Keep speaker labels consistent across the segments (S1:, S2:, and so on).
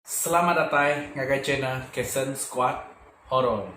S1: Selamat datai ngagai channel Kason Squad Horror.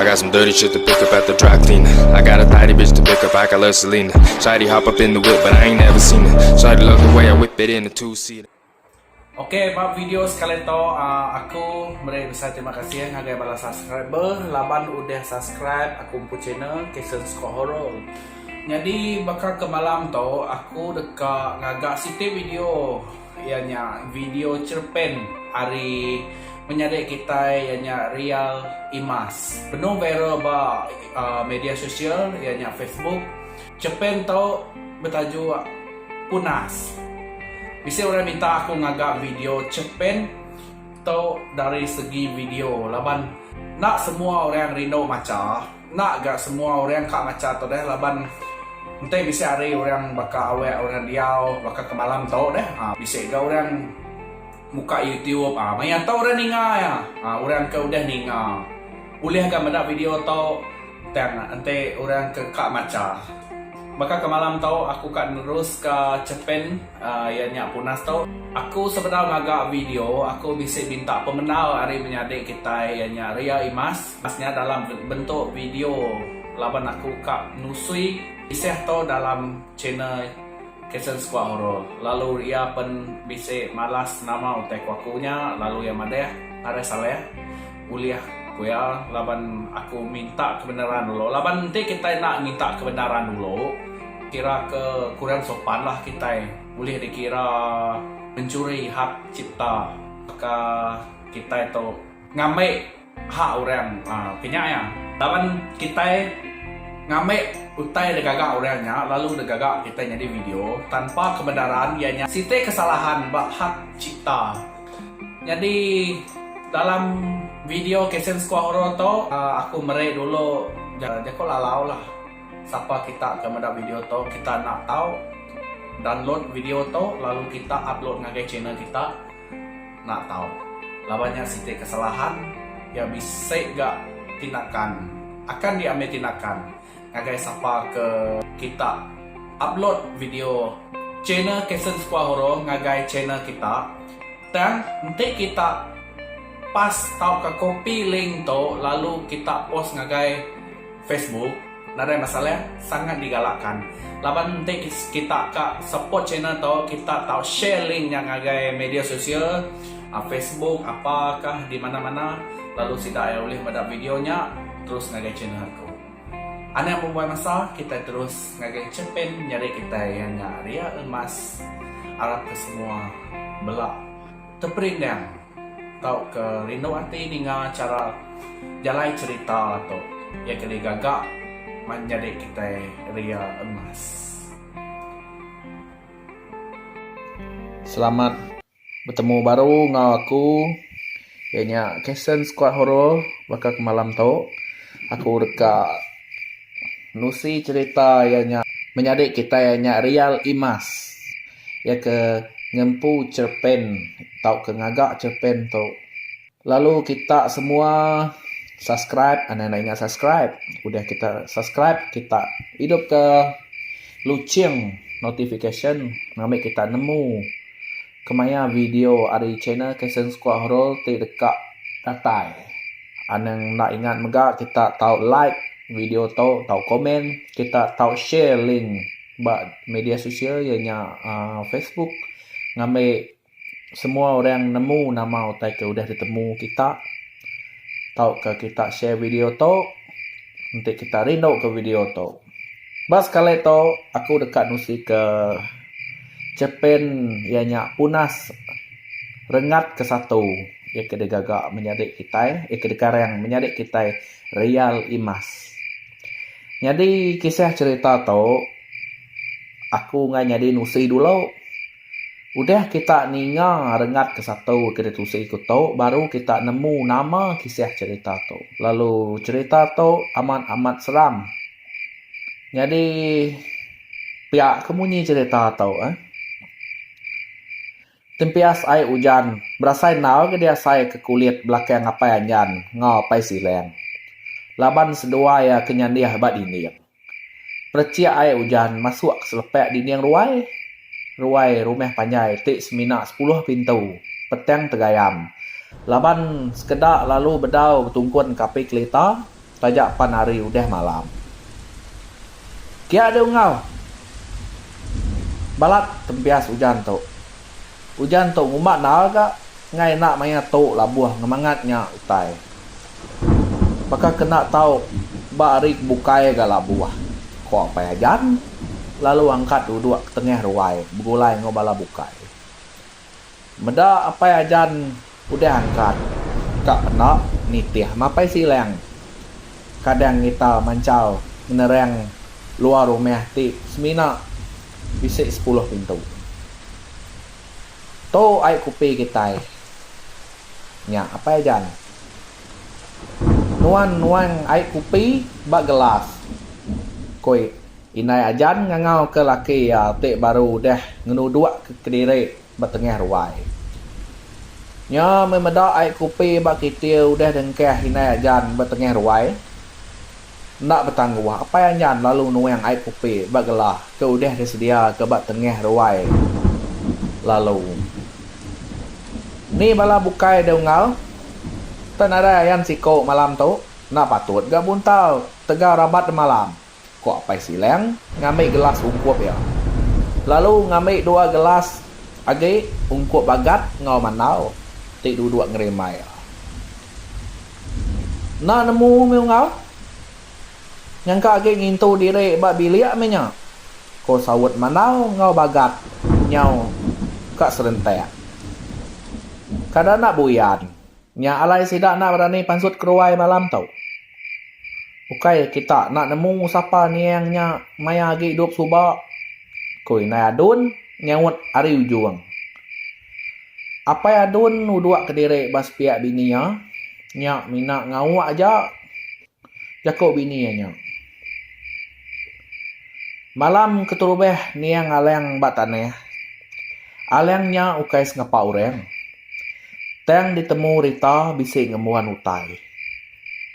S1: I
S2: got some dirty shit to pick up at the dry clean I got a tidy bitch to pick up, I got love Celine Shady hop up in the whip, but I ain't never seen it Shady love the way I whip it in a two-seater Okay,
S1: ba video sekali to, uh, aku meri besar terima kasih ngagai bala subscriber laban udah subscribe aku empu channel Kason Scott Horror. Nyadi baka ke malam tu aku deka ngaga siti video Iya nya video cherpen ari menyadi kitai iya nya Rial Imas. Benung viral ba media sosial iya nya Facebook. Cherpen tu betajuk Punas. Bisi orang minta aku ngaga video cherpen tu dari segi video laban enda semua orang rindu macha. Enda ga semua orang ka macha tu deh laban enti bisi hari orang baka awek orang diau baka ke malam tu deh aa bisi ga orang muka youtube aa maya tu orang ninga iya aa orang ke udah ninga ulih ga meda video tu tang enti orang ke ka macha. Baka ke malam tu aku ka nerus ka chepin aa iya nya punas tu aku sebedau ngaga video aku bisi minta pemendar ari menyadi kitai iya nya Ria Imas. Pas nya dalam bentuk video laban aku ka nusui iseh tu dalam channel Caption Squad Horror lalu iya pen bisi malas nama utai ku aku nya lalu iya madah ngagai Saleh ulih ku iya laban aku minta kebenaran dulu laban enti kitai enda minta kebenaran dulu kira ke kurang sopan lah kitai ulih di kira mencuri hak cipta baka kitai tu ngambi Hak orang ke nya iya. Laban kitai ngambil utai da gaga orang nya lalu da gaga kitai nyadi video tanpa kebenaran iya nya siti kesalahan ba hak cipta. Nyadi dalam video Kesen Sekuah Horor tu aku meri dulu jaku lalau lah sapa kita ke meda video tu kita enda tau download video tu lalu kita upload ngagai channel kita. Enda tau. Laban nya siti kesalahan iya bisi ga tinakan akan di ambi tinakan ngagai sapa ke kita upload video channel Kason Sekuah Horo ngagai channel kita tang enti kita pas tauka copy link tu lalu kita post ngagai Facebook. Nadai masalah, sangat digalakan. Laban enti kita ka support channel tu, kita tau share link nya ngagai media sosial, Facebook apa kah di mana-mana lalu sida ai ulih meda video nya terus ngagai channel aku. Anak bembuai masa, kitai terus ngagai chempen nyeri kitai iya nya Ria Emas. Arap ke semua bela teperindang. Tauka rindu ati ninga chara jalai cherita tu iya ke digaga manjadi kitai ria emas. Selamat betemu baru enggau aku iya nya Kason Skuad Horor baka ke malam tu aku deka nusi cherita iya nya menyadi kitai nya ria emas. iya ke ngempu cerpen tauka ngaga cerpen tu lalu kita semua subscribe anang enda ingat subscribe udah kita subscribe kita hidupka luching notification ngambika kita nemu kemaya video ari channel Kasen Sekua Horor ti deka datai. Anang enda ingat mega kita tau like video tu tau komen kita tau share link. ba media sosial iya nya aaa facebook ngambi semua orang nemu nama utai ke udah ditemu kita tauka kita share video tu enti kita rindu ke video tu. Ba sekali tu aku deka nusi ke cerpen iya nya Punas Rengat ke Satu iya ke digaga menyadi kitai iya ke dikarang menyadi kitai Real Imas. Nyadi kisah cerita tu aku enggai nyadi nusi dulu. Udah kita ninga rengat ke satu ke ditusi ku tu baru kita nemu nama kisah cerita tu. Lalu cerita tu amat amat seram. Nyadi pia ke munyi cerita tu eh. Tempias ai ujan berasai endaur ke diasai ke kulit belakang ngapai anjan enggau apai silang. Laban seduai iya ke nyandih ba dinding. Perechik ai ujan masuk ke selepak dinding ruai. Ruai rumah panjai ti semina sepuluh pintu petang tegayam laban sekeda lalu bedau betungkun ke api kelita. taja pan hari udah malam. Kia deh ungau. Balat tempias ujan tu. Ujan tu ngumba endar ga ngai enda maya tu labuh ngemangat nya utai. Baka ke enda tau ba hari ke bukai ga labuh, ko Apai Ajan lalu angkat duduk ke tengah ruai begulai enggau bala bukai. Meda apai ajan udah angkat ka pena nitih mapai silang. Kadang ngita manchal ngenerang luar rumah ti semina bisi sepuluh pintu. Tu ai kupi kitai. Nya apai ajan. Nuan nuang ai kupi ba gelas, ku iya. Indai Ajan ngangauka laki iya ti baru udah ngenuduka kediri ba tengah ruai. Nya meh meda ai kopi ba kitil udah dengkah Indai Ajan ba tengah ruai. Enda betangguh, Apai Anjan lalu nuang ai kopi ba gelah ke udah disediaka ba tengah ruai lalu. Ni bala bukai dau enggau. Tau nadai ayan siku malam tu. Enda patut ga buntal tegau rabat demalam. Ko Apai Silang ngambi gelas ungkup iya. Lalu ngambi dua gelas agi ungkup bagat enggau mandau ti duduk ngerimbai iya. Enda nemu mih unggal. Nyangka agi ngintu diri ba bilik mih nya, ko saut mandau enggau bagat nyau ka serentak. Kada enda buyan Nya alai sida enda berani pansut keruai malam tu. Ukai kita enda nemu sapa niang nya maya agi idup suba, ku Indai Adun nyaut ari ujung. Apai Adun nuduk kediri ba sepiak bini iya, nya mina ngauk aja. jaku bini iya nya. Malam keterubah niang Alang ba tanah, Alang nya ukai sengapa orang. Tang ditemu Rita bisi ngembuan utai.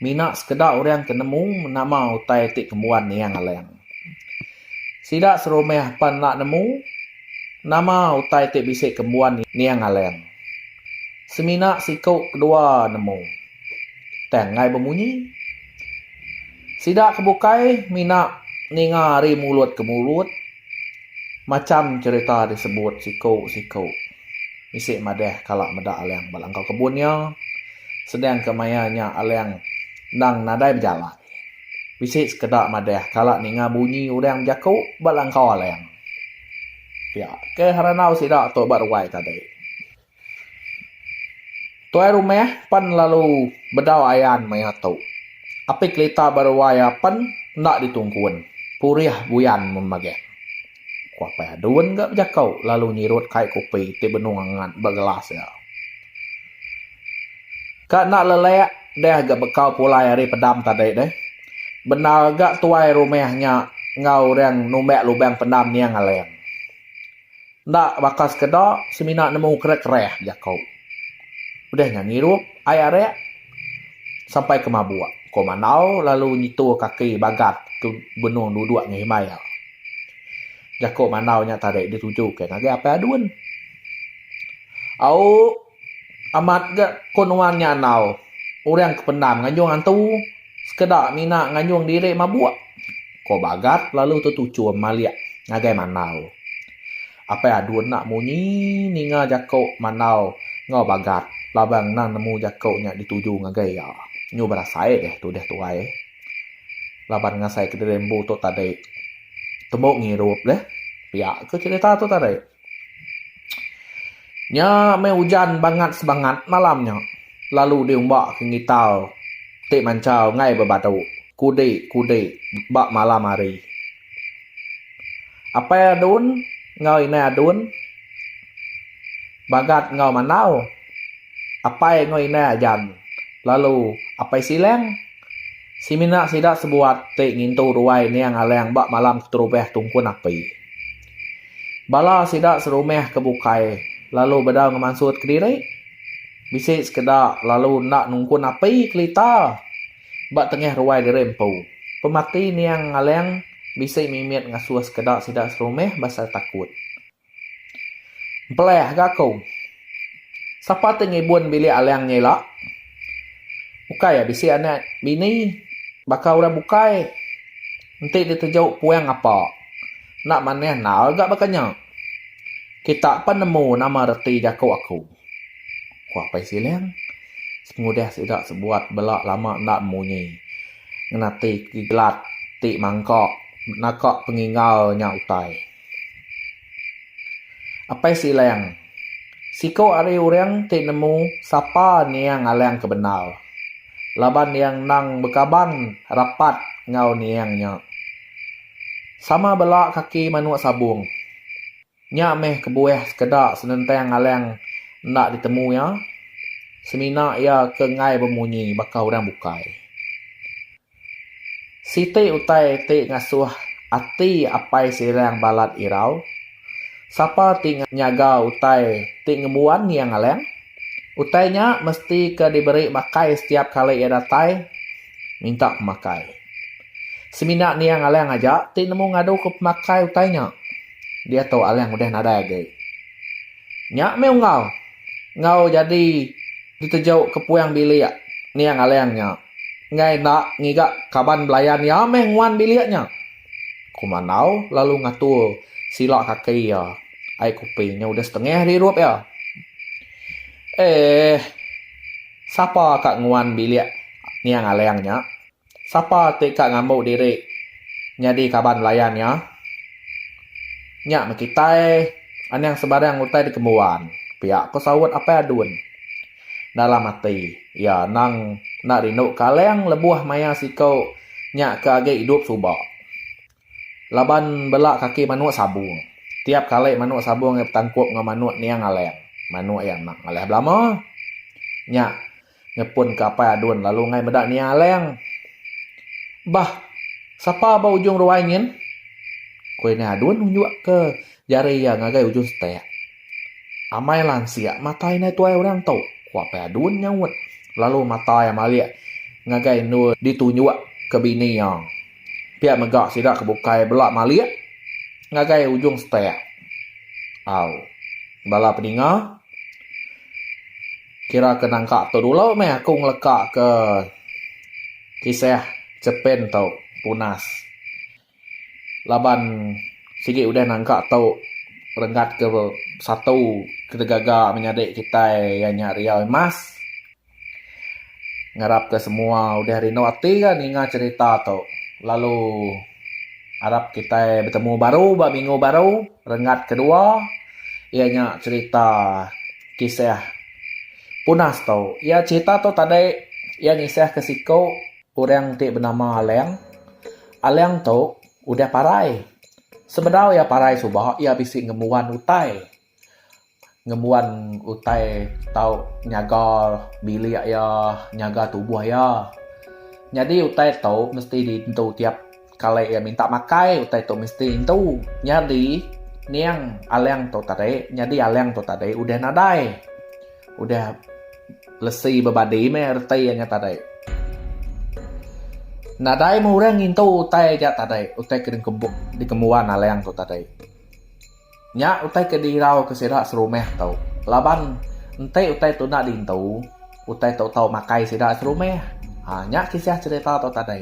S1: Mina sekeda orang ke nemu nama utai ti kembuan niang Alang. Sida serumah pan enda nemu nama utai ti bisi kembuan niang Alang. Semina siku kedua nemu. tang ngai bemunyi. Sida ke bukai mina ninga ari mulut ke mulut macham cherita disebut siku siku bisi madah kala meda Alang ba langkau kebun iya sedang ke maya nya Alang endang nadai bejalai. Bisi sekeda madah kala ninga bunyi orang bejaku ba langkau Alang. Pia ke randau sida tu ba ruai tadi. Tuai rumah pen lalu bedau ayan maya tu. Api kelita ba ruai iya pen enda ditungkun. Purih buyan mun magang. Ku Apai Adun ga bejekau lalu nyirut kai kopi ti benung angat ba gelas iya. Ka enda lelek deh ga bekau pulai ari pedam tadi deh. Bendar ga tuai rumah nya enggau orang numbak lubang pendam niang aleng. Enda baka sekeda semina nemu kereh-kereh jaku. Udah nya ngirup ai arek sampai ke mabuk, ko Mandau lalu nyitu kaki bagat ke benung duduk ngehimai iya. Jaku Mandau nya tadi dituju ke ngagai Apai Adun. Au. Amat ga ko nuan nya andau orang ke pendam nganjung antu sekeda mina nganjung diri mabuk, ko Bagat lalu tetuchum malik ngagai Mandau. Apai Adun enda munyi ninga jako Mandau enggau Bagat laban endang nemu jako nya dituju ngagai iya. Nyu berasai deh tudah tuai laban ngasai kediri empu tu tadi. Tembu ngirup deh pia ko cherita tu tadi. Nya meh ujan bangat sebangat malam nya lalu diumbakka ngital ti manchau enggai bebadu kudi kudi ba malam hari. Apai Adun enggau Indai Adun Bagat enggau Manau apai enggau indai Ajan lalu Apai Silang semina sida sebuat ti ngintu ruai Niang Alang ba malam keterubah tungkun api. Bala sida serumah ke bukai lalu bedau ngemansut kediri. Bisi sekeda lalu enda nungkun api kelita ba tengah ruai diri empu. Pemati niang Ngalang bisi mimit ngasuh sekeda sida serumah pasal takut. Empelah ga aku. Sapa
S3: ti ngibun bilik Alang nya ila? Ukai iya bisi anak bini baka orang bukai. Enti diteju puang ngapa. Enda manah endar ga baka nya. Kita pan nemu nama reti jaku aku. Ku Apai Silang pengudah sida sebuat bela lama enda bemunyi ngena ti Kiglat ti mangka naka penginggar nya utai. Apai Silang. Siku ari urang ti nemu sapa niang Alang ke bendar. Laban iya endang bekaban rapat enggau niang nya. Sama bela kaki manuk sabung. Nya meh kebuah sekeda senentang Alang enda ditemu iya, semina iya ke enggai bemunyi baka urang bukai. Siti utai ti ngasuh ati apai Sirang balat irau, sapa ti nyaga utai ti ngembuan iya ngaleng. Utai nya mesti ke diberi makai setiap kali iya datai minta pemakai. Semina nia ngaleng aja ti nemu ngadu ke pemakai utai nya. Diatu aleng udah nadai agi. Nya meh unggal enggau jadi diteju ke puang bilik nia ngaleng nya. enggai enda ngiga kaban belayan iya meh nguan bilik nya, ku Mandau lalu ngatur sila kaki iya. Ai kopi nya udah setengah dirup iya. Eeh. Sapa ka nguan bilik Niang Alang nya? Sapa ti ka ngambu diri nyadi kaban belayan iya? Nya meh kitai, Anang sebarang utai dikembuan, pia ko saut Apai Adun. Dalam ati iya endang enda rindu Kalang lebuh maya siku nya ke agi idup suba. Laban bela kaki manuk sabung. Tiap kali manuk sabung iya betangkup enggau manuk niang Alang, manuk iya enda ngalih belama. Nya ngepunka Apai Adun lalu enggai meda niang Alang. Bah, sapa ba ujung ruai nyin? Ku Indai Adun nunjukka Jari iya ngagai ujung setek. Amai lansia matai indai tuai orang tu, ku Apai Adun nyaut lalu matai iya malik ngagai endur ditunjuk ke bini iya. Pia mega sida ke bukai bela malik ngagai ujung setek. Au. Bala pedinga kira ke nangka tu dulu meh aku ngeleka ke kisah Chepin tu punas. laban sigi udah nangka tu renggat ke satu kena gaga menyadi kitai iya nya Riau Imas ngarap ke semua udah rindu ati ga ninga cerita tu lalu arap kitai betemu baru ba minggu baru renggat kedua iya nya cerita kisah punas tu iya cerita tu tadi iya ngisah ke siku Orang ti benama Alang. Alang tu udah parai. Sebedau iya parai suba, iya bisi ngembuan utai. Ngembuan utai tau nyaga bilik iya, nyaga tubuh iya. Nyadi utai tu mesti diintu tiap. Kali iya minta makai utai tu mesti intu nyadi niang alang tu tadi nyadi alang tu tadi udah nadai udah lesi bebadi meh reti iya nya tadi. Nadai meh orang ngintu utai aja tadi utai ke dikebuk dikembuan alang tu tadi. Nya utai ke dirauka sida serumah tu laban enti utai tu enda diintu utai tu tau makai sida serumah. Ha nya kisah cherita tu tadi.